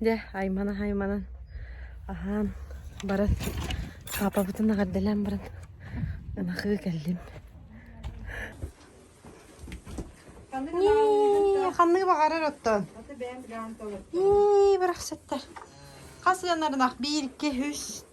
Дьэ, айманан-айманан аһаан баран паапабытын эҕэрдэлээн баран ынахыы кэллим. Нии, ханнык баҕарар оттон. Нии, бырахсаттар. Хас ыанар ынах? Биир, iki, үс.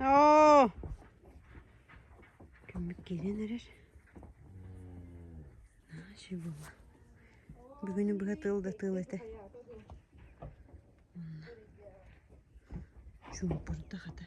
Оо! Көмүк киирэн эрэр. Наачы була. Бүгүнү быһа тыл да тыл этэ. Онна. Чуумпурда хата.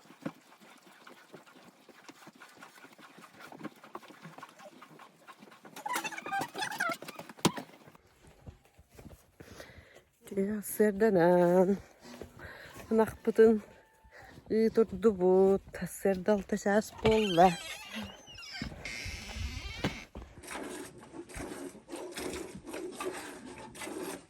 Сырданан ынахпытын ыытырдыбыт сырда алта чаас буолла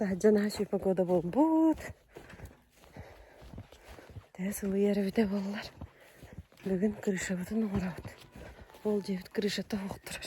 таһырдьа наһаа сүрүн погода буолбут тэс улуйар эбитэ буоллар бүгүн крышабытын оҥоробут ол диэбит крышата оһох турар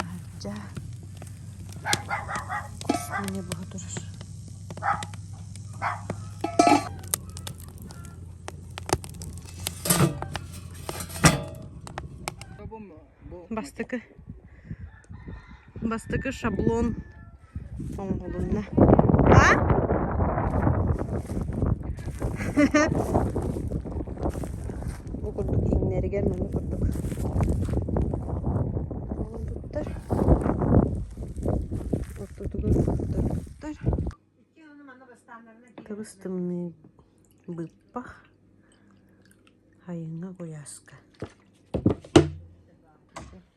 Аһардьаа, кусугуни быһа турар бастакы бастакы шаблон оҥоһулунна а Ол курдук иҥнэригэр маны курдук оҥорбуттар. Ортотугар оҥорторбуттар. Кыбыс тымныы быыппах айыҥа куйааска.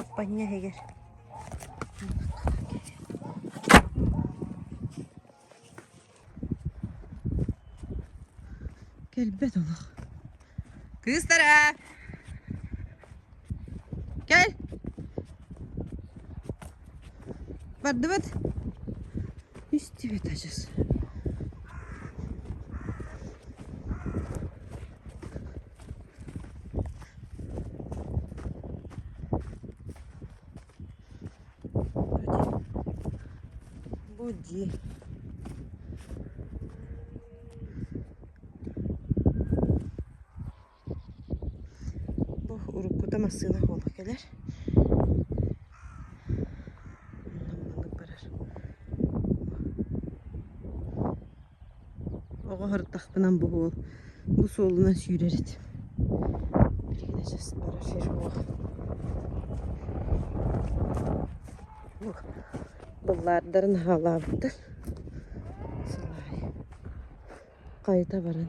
Аппанньа иһигэр кэлбэт олох кыыстара кэл бардыбыт истибит адьас Бу дии Бу уруккута массыына оһуола кэлэр. Онно маннык барар. Оҕо ырдахпынан бу уол бу суолунан сүүрэр этим. Биһигинэ саспара сир уох. Уох быллаардарын аһаалаабыттар. Сылаай хайыта баран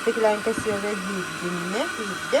Стеклянка сыана биирдиннэ иирдэ.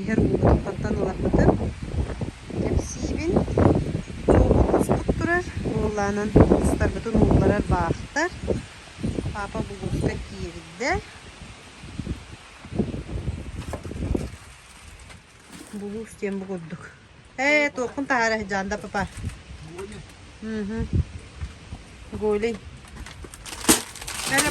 иһэр уугутуттан ыларбытын кэпсиибин суолбут устук турар уоллаанан устарбытын уулларар баахтар паапа булууска киирдэ булуус диэн бу курдук ээ туоххун таһаара дьаанда папа угу голый эрэ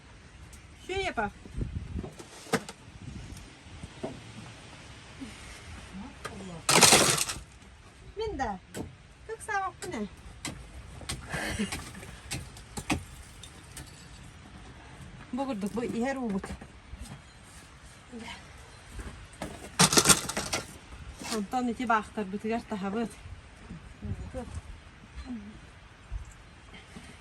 Филиппа. Мин да. Как савак не? Бу курдук бу иһэр уубут. Онтон ити баахтарбытыгар таһабыт.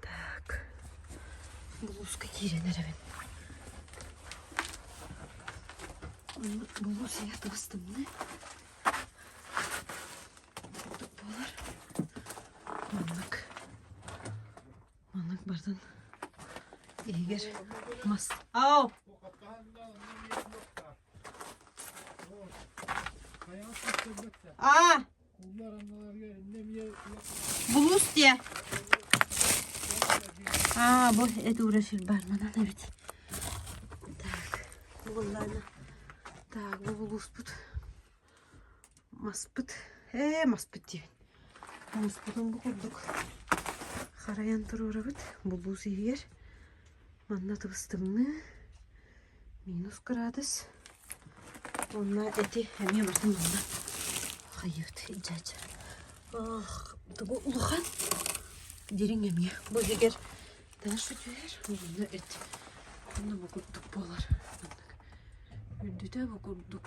Так, булууска киирэн эрэбин. Булуур сирээх табастымны. Буолар. Маннык. Маннык бардын. Игер. Мас. Ау! А! Булуус диэ. Аа бу эт ура сильбарманан эбит. Так, бу буллайна. Так, бу булууспут. Маспыт. Ээ, маспыт диибин. Муспутун бу курдук харайан туруурабыт булуус иһигэр. Манна тыбыстымны. Минус кыраадыс уонна эти эмиэ барытын булла. Хайыыт, дьаача. Аах, тугу улахан дириҥ эмиэ. Бу эгэр таас сүтүһэр уонна эт онно бу курдук буолар. Үрдүтэ бу курдук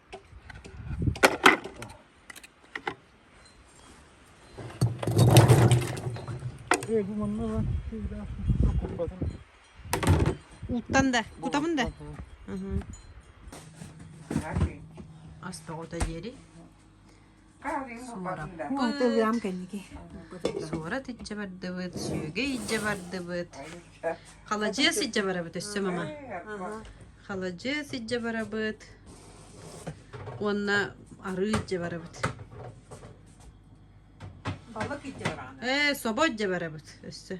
Уттан да, кутабын да. Ас тоҕото диэри. Онто ыам кэнники. Суора тиччэ бардыбыт, сүөгэй иччэ бардыбыт. Халадьыас иччэ барабыт өссө мама. Халадьыас иччэ барабыт. Уонна арыы иччэ барабыт. Балык иччэ бараана. Ээ, собо иччэ барабыт өссө.